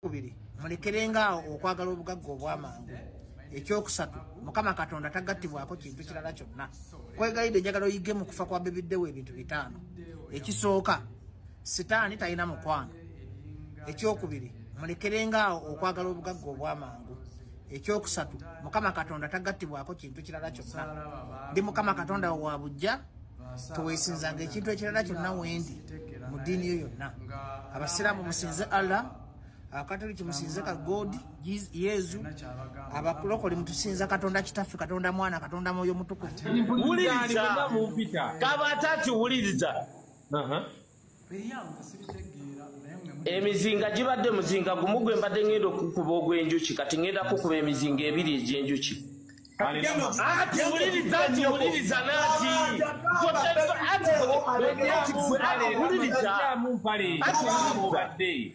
kubiri mulekerenga awo okwagala obugagga obwamangu ekyokusatu mukama katonda tagattibwako kintu kirala kyonna kwegayidde njagala oyige mu kufa kwa bebiddewo ebintu bitaano ekisooka sitaani talina mukwano ekyokubiri mulekerenga awo okwagala obugagga obwamangu ekyokusatu mukama katonda tagattibwako kintu kirala kyonna ndi mukama katonda wewabujja tewesinzanga ekintu ekirala kyonna wendi mu ddiini yo yonna abasiraamu musinze allah abakatoliki musinze ka god yezu abakulokole mutusinza katonda kitaffe katonda mwana katonda mwoyo mutukuvuwuliriza kaba atati wuliriza emizinga gibadde muzinga gumu gwe mbadde ngenda okukuba ogw'enjuki kati ngenda kukuba emizinga ebiri egy'enjuki ati wuliriza nti wuliriza nati ati wuliriza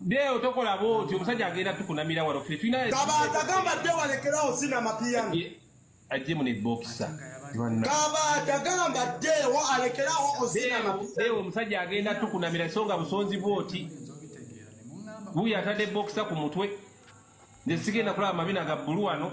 Deo tokola bwoti omusajja agenda tukunamira wano ffe tulina Kabaata gamba Deo alekerawo zina amapiyano ajje mu ne boxer Kabaata gamba Deo alekerawo ozina amapiyano Deo omusajja agenda tukunamira so nga busonzi bwoti wuyo atadde boxer ku mutwe nze sigenda kulaba mabina ga bbulu wano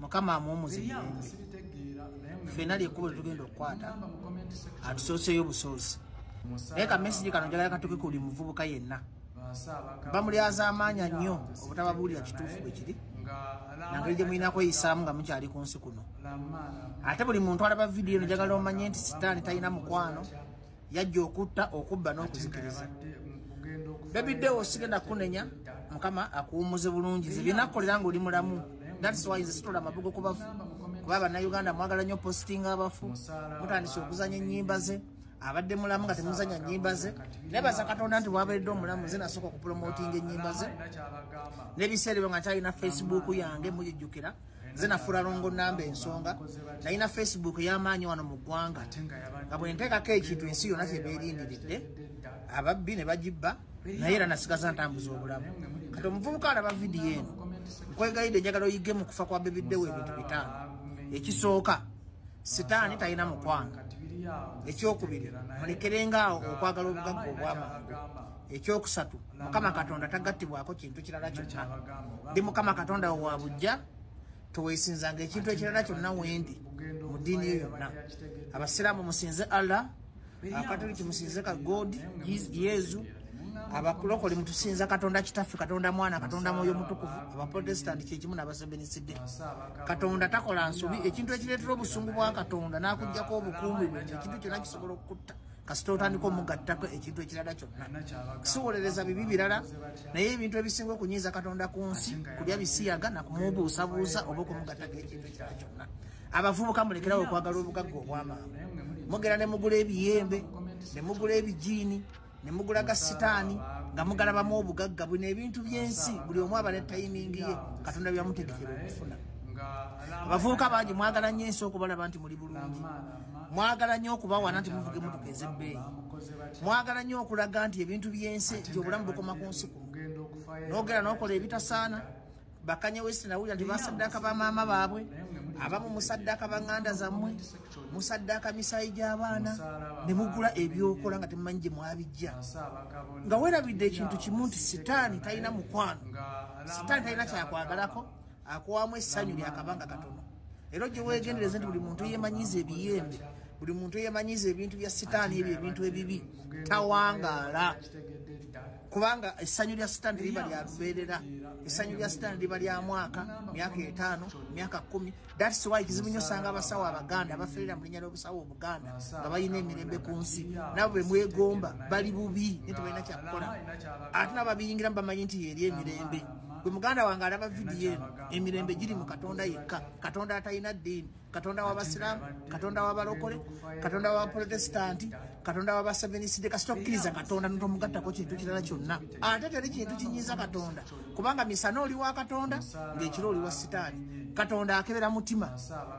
mukama amu omuziyembe fena lyekubo tetugenda okukwata atusooseyo obusoosi naye kamesigi kano njagala katuke ku buli muvubuka yenna bamulyaza amaanya nnyo obutababuulira kituufu bwe kiri nangeri gye mulina kweyisaamu nga mukyali ku nsi kuno ate buli muntu alaba vidiyo nojagala omanye nti sitaani talina mukwano yajja okutta okubba n'okuzikiriza bebi dewo sigenda kunenya mukama akuwumuze bulungi zebinakukolera nga oli mulamu thatsysitula amabugo kubafu kuba bannayuganda mwagala nnyo postinga abafu mutandise okuzanya ennyimba ze abadde mulamu nga temuzanya nyimba ze naye baza katonda nti waberedde omulamu nze nasooka okupromotinga enyimba ze nebiseera ebyo nga nkyalina facebook yange mujijjukira nze nafuula longo namba ensonga nalina facebook ey'amaanyi wano mu ggwanga nga bwe nteekako ekintu ensi yonna kye beerindiridde ababbi ne bagibba naye era nasigaza ntambuza obulamu kati omuvubuka alaba vidiyo eno nkwegayidde njagala oyige mu kufa kwa bebiddewo ebintu bitaano ekisooka sitaani talina mukwano ekyokubiri mulekerenga awo okwagala obugagga obwamangu ekyokusatu mukama katonda tagattibwako kintu kirala kyonna ndi mukama katonda wo wa bujja tewesinzanga ekintu ekirala kyonna wendi mu ddiini yo yonna abasiraamu musinze allah akatoliki musinze ka god yezu abakulokole mutusinza katonda kitaffe katonda mwana katonda mwoyo mutukuvu abaprotestanti kyekimu nabasebeniside katonda takola nsobi ekintu ekireetera obusungu bwa katonda n'akugjako obukuumi bwe ekintu kyonna kisobola okukutta kasita otandika omugattako ekintu ekirala kyonna siwolereza bibi birala naye ebintu ebisinga okunyiiza katonda ku nsi kulya bisiyaga nakumubuusabuusa oba okumugattako ekintu ekirala kyonna abavubuka mulekerawo okwagala obugagga obwamaama mugera ne mugula ebiyembe ne mugula ebijiini ne mugula ga sitaani nga mugalabamu obugagga bwino ebintu by'ensi buli omu aba ne tayimingi ye katonda byamutegekera okufuna abavubuka bangi mwagala nnyo ensi okubalaba nti muli bulungi mwagala nnyo okubawana nti muvuga emotoka ezebbeeyi mwagala nnyo okulaga nti ebintu byensi nti obulamu bukoma ku nsi ku nogera nokola ebitasaana bakanye wesi nawulira nti basaddaka bamaama baabwe abamu musaddaka baŋŋanda zammwe musaddaka misaayi gy'abaana ne mugula ebyokola nga temumanyi gye mwabijja nga werabidde ekintu kimu nti sitaani talina mukwano sitaani talina kyakwagalako akuwamu essanyu lyakabanga katono era ojja wegendereze nti buli muntu yemanyiza ebiyembe buli muntu yemanyiza ebintu bya sitaani ebyo ebintu ebibi tawangaala kubanga essanyu lya sitaani liba lya lubeerera essanyu lya sitaani liba lya mwaka myaka etaano myaka kumi thats wy kizibu nyo osanga abasawo abaganda abaferera mu linnya ly'obusawo obuganda nga balina emirembe ku nsi nabo be mwegomba bali bubi naye tebalina kyakukola ate nababiyingiramu bamanyi nti yeeri emirembe gwe muganda wange alaba vidiyo eno emirembe giri mu katonda yekka katonda atalina ddiini katonda wabasiraamu katonda wabalokole katonda wabaprotestanti katonda wabaseveniside kasita okkiriza katonda notomugattako kintu kirala kyonna ate teri kintu kinyiiza katonda kubanga misana oli wa katonda ngaekiro oli wa sitaani katonda akebera mutima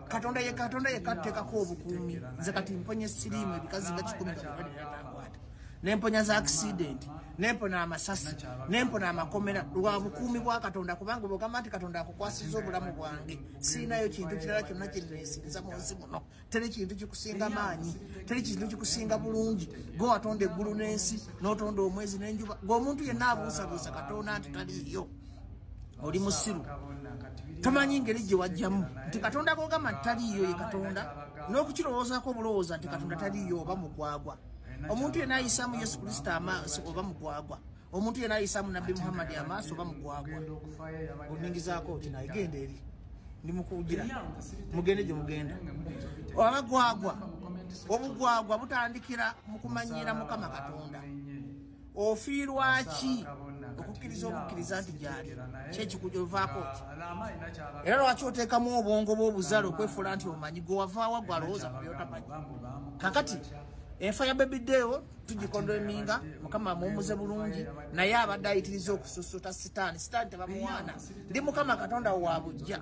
katonda ye katonda yekka tuteekako obukuumi nze kati mponye siriimu ebikazi nga kikumi nabiwaliatankwata nemponya za accident nempona amasasi nempona amakomera lwa bukuumi bwa katonda kubanga bwogamba nti katonda akukwasiza obulamu bwange siinayo kintu kirala kyonna kyenneesinza mu nsi muno teri kintu kikusinga maanyi teri kintu kikusinga bulungi gwe watonda eggulu n'ensi n'otonda omwezi n'enjuba gweomuntu yenna abuusabuusa katonda nti taliiyo oli musiru tomanyi ngeri gye wajjamu nti katonda gogamba nti taliiyo ye katonda n'okukirowoozaako obulowooza nti katonda taliiyo oba mukwagwa omuntu yena ayisamu yesu kristo amaaso oba mugwagwa omuntu yena ayisamu nabbi muhammadi amaaso oba mugwagwa oningizaako oti naye genda eri ndimukugira mugende gye mugenda abagwagwa obugwagwa butandikira mukumanyiira mukama katonda ofiirwaki okukkiriza obukkiriza nti gyali kyekikujovaako ki era lwaki oteekamu obwongo bwobuzale okwefuula nti omanyi gwewavaawa gwe alowooza ku byotamanyi kakati enfa ya bebideewo tugikondo eminga mukama amuwumuze bulungi naye abadde ayitiriza okususuta sitaani sitaani tebamuwaana ndi mukama katonda waabujja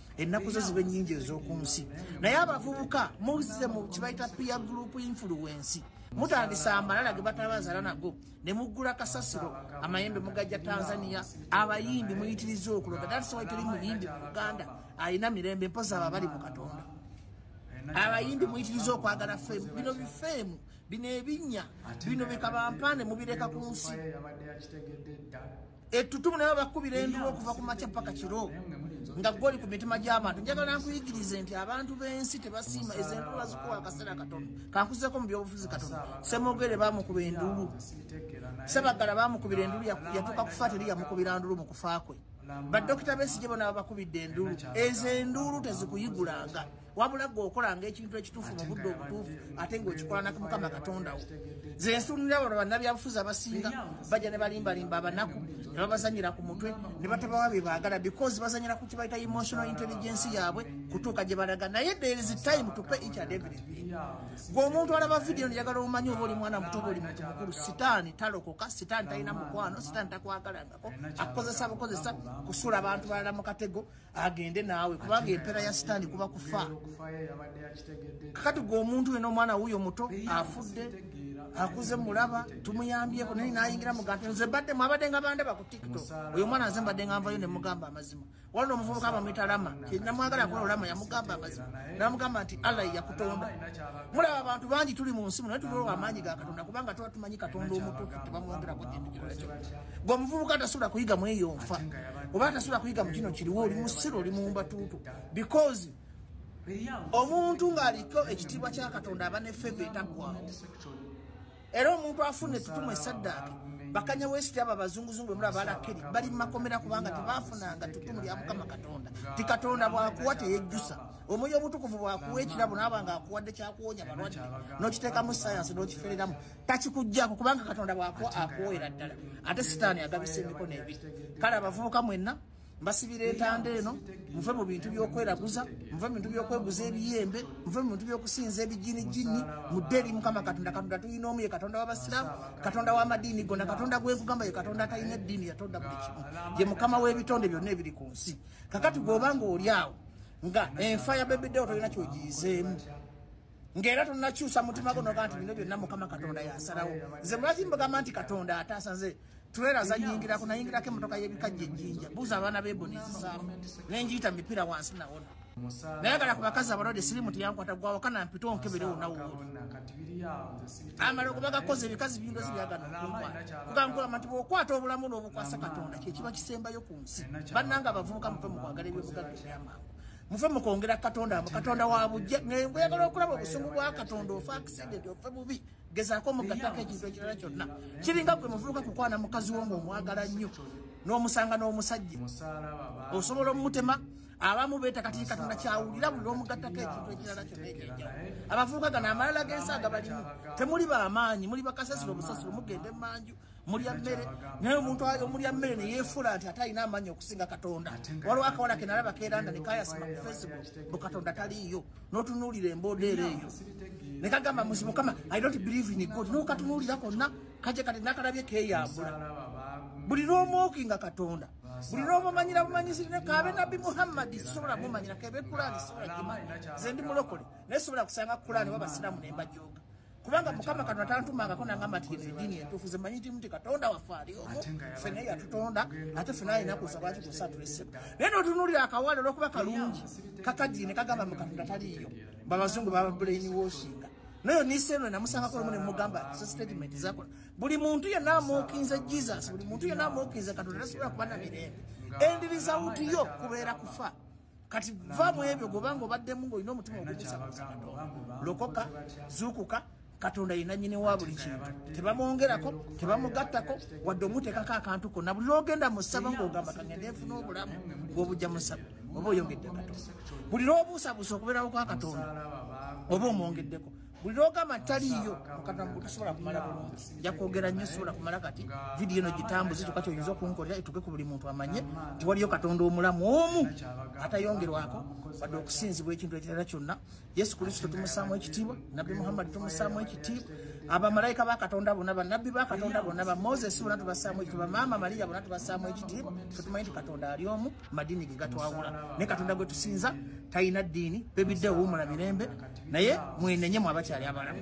ennaku zo ziba ennyingi ez'oku nsi naye abavubuka muze mu kibayita pia group influensi mutandisa amalala ge batabazala nago ne muggula kasasiro amayembe mugajja tanzania abayimbi muyitiriza okuloga datisawa tuli muyimbi mu uganda alina mirembe mpozi abo abali mu katonda abayimbi muyitiriza okwagala femu bino bifeemu bino ebinya bino bikabampaane mubireka ku nsi ettutumu naye bakubira enduwa okuva ku makya paka kiro nga goli ku mitima gy'abantu njagala nkuyigirize nti abantu b'ensi tebasiima ezo enduwa zikuwa akaseera katono kankuzeko mu byobufuzi katono semogere bamukuba endulu sebagala bamukubira endulu yatuuka kufa teri yamukubira ndulu mu kufa kwe badokita besigye bona babakubidde endulu ezo enduulu tezikuyigulanga wabula gwe okolanga ekintu ekituufu mu budde obutuufu ate ngaokikolanako mukama katondawo ze nsuunira bano bannabyabufuzi abasinga bajja ne balimbalimba abanaku ne babazanyira ku mutwe ne batabawa bye baagala because bazanyira ku kibayita emotional intelligence yaabwe kutuuka gye balaga naye there is time to pay each and everything gwe omuntu alaba vidiyo njagala omanyi oba oli mwana muto oba oli muntu mukulu sitaani talokoka sitaani talina mukwano sitaani takwagalangako akukozesa bukozesa kusula abantu balala mu katego agende naawe kubanga empera ya sitaani kuba kufa kakati gwe omuntu wena omwana wuyo muto afudde akuze mulaba tumuyambyeko naye nayingira muganti nze badde mwabadde nga bande bakutikito oyo omwana nze mbadde nga nvayo nemugamba amazima wala omuvubuka bamwita lama namwagala kola olama yamugamba amazima namugamba nti allah yakutonda mulaba abantu bangi tuli mu nsimu naye tuliowa amaanyi ga katonda kubanga tuba tumanyi katonda omutuufu tebamwongerako kintu kyona kyona gwe omuvubuka atasobola kuyiga mu eyo nfa oba atasobola kuyiga mu kino kiriwo oli musiru oli mumbatuutu because omuntu ng'aliko ekitiibwa kya katonda aba ne feva etaggwawo era omuntu afuna etutumu esaddaake bakanya wesiti abo abazunguzungu bemula balakeri bali mumakomera kubanga tebafunanga tutumu lya mukama katonda ti katonda bwakuwa teyejjusa omwoyo obutukuvu bwakuwa ekirabo naaba nga akuwadde kyakuwonya balwadde n'okiteekamu sayansi n'okifereramu takikujjako kubanga katonda bwakuwa akuwoera ddala ate sitaani agabisa emikono ebi kale abavubuka mwenna mbasibira entanda eno muve mu bintu byokweraguza muve mu bintu byokweguza ebiyembe muve mu bintu byokusinza ebijini jini mudde eri mukama katonda katonda tulina omu ye katonda wabasiramu katonda wamadiini gona katonda gwenkugamba ye katonda atalina eddiini yatonda buli kimu ye mukama w'ebitonde byonna ebiri ku nsi kakati gweobanga oli awo nga enfa ya bebideo tolina kyogiyizeemu ng'era tonakyusa mutima guno ga nti bino byonna mukama katonda yasalawo nze lwaki mbagamba nti katonda ataasa nze tulera zanyingirako nayingirako emotoka y'ebikajja ejjinja buuza abaana beboni ezisaamu nenjiyita mipiira wansi nawona nayagala ku bakazi abalwadde sirimu teyankwata gwawaka nampita onkebere onawooli amala okuba gakoze ebikazi bindozi byagana okunkwata kugambugamba nti bwokwata obulamu n'obukwasa katonda kyekiba kisembayo ku nsi bannanga abavubuka muve mu kwagala ebyobugadde ebyamangu mufe mukwongera katonda amu katonda wabujja ngaoyagala okulaba obusungu bwa katonda ofa accident ofe bubi gezaako omugatako ekintu ekirala kyonna kiringa gwe muvubuka kukwana mukazi wo ngaomwagala nnyo n'omusanga n'omusajja osobola omumutema abamu beeta kati katonda kyawulira buli lwomugattako ekintu ekirala kyonna ekyenjawo abavubuka gano amalala g'ensi agabalimu temuli bamaanyi muli bakasasiro busasiro mugende manju mulya mmere naye omuntu omulya mmere neyefuula nti ate alina amaanyi okusinga katonda waliwo akawala kenalaba keranda nekayasima ku facebook bu katonda taliiyo notunuulira emboodeera eyo nekagamba muzi mukama i don't believe in god nokatunuulira konna kaje kati nakalabye keyambula buli n'omwoki nga katonda buli n'omumanyira bumanyisiri ne kaabe nabbi muhammadi sisobola mumanyira kebe kulaani sisobola gimanyi ze ndi mulokole naye sisobola kusanga kulaani wabasiraamu ne mbajooga kubanga mukama kano atantumangako nangamba nti yene edini entuufu zemanyi timu ti katonda waffe aliomu fena yatutonda ate fena alina kusa lwaki kusa tulese naye notunulira akawale olwokuba kalungi kakadini kagamba mukatonda taliiyo babazungu baba brain washinga nayo niseno namusangako lumu nemugamba so statement zakola buli muntu yena amuukinze jesus buli muntu yena amuukinze katonda tasobola kuba na mirembe endiriza wutiyo kubeera kufa kati va mu ebyo gobanga obaddemu ng'olina omutima ogumusabasa katonda lokoka zuukuka katonda yina nyini wa buli kintu tebamwongerako tebamugattako wadde omuteekako akantu konna buli lwogenda mu ssaba ng'ogamba kangende nfuna obulamu bwobujja mu ssaba oba oyongedde katonda buli lwobuusabuusa okubeerawo kwa katonda oba omwongeddeko buli lwogamba nti taliiyo mukatona mbu tosobola kumala bulungi jakwogera nnyo sobola kumala kati vidiyo eno gitambuze kyokka kyoyinza okunkolera etuke ku buli muntu amanye nti waliyo katonda omulamu omu atayongerwako wadde okusinzibwa ekintu ekirala kyonna yesu kristo tumusaamu ekitiibwa nabbi muhammadi tumusaamu ekitiibwa abamalayika ba katonda bona banabbi ba katonda bona ba moses bona tubasaamu ekitiibwa maama mariya bona tubasaamu ekitiibwa fetumanyi nti katonda ali omu madini ge gatwawula naye katonda gwe tusinza talina ddiini bebidde owuumula mirembe naye mwenenye mu abakyali abalamu